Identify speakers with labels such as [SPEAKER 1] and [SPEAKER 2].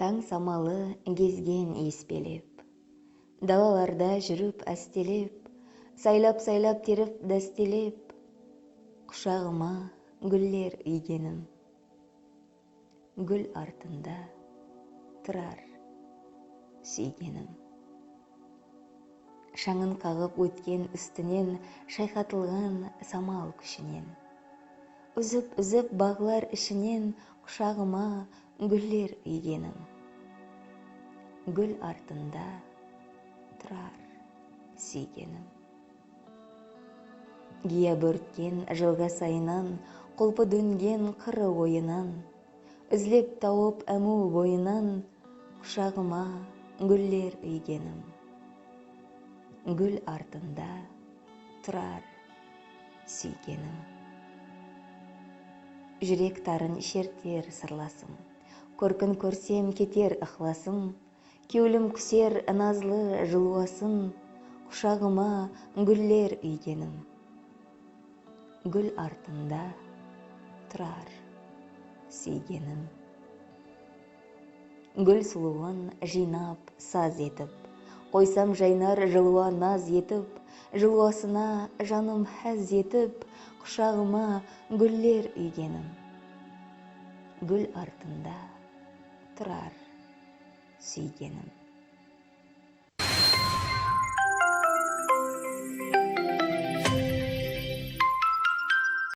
[SPEAKER 1] Tań samalı gezgen iyis belep. Dalalarda júrip ástelep, Saylap-saylap terip dástelep, Qushaǵıma gúller úygenim. Gúl artında turar súygenim. Shańın qaǵıp ótken ústinen shayqatılǵan samal kúshinen. Úzip-úzip baǵlar ishinen qushaǵıma gúller úygenim. Gúl artında turar súygenim. Giya bórtken jılǵa sayınan, Qulpı dóngen qırı oyınan. Izlep tawıp ámiw boyınan, Qushaǵıma gúller úygenim. Gúl artında turar súygenim. Júrek tarın sherter sırlasım. Kórkin kórsem keter ıqlasım. Kewlim kúser nazlı jılwasın, Qushaǵıma gúller úygenim. Gúl artında turar súygenim. Gúl sulıwın jıynap saz etip, Qoysam jaynar jılwa naz etip, Jılwasına janım ház etip, Qushaǵıma gúller úygenim. Gúl artında turar súygenim.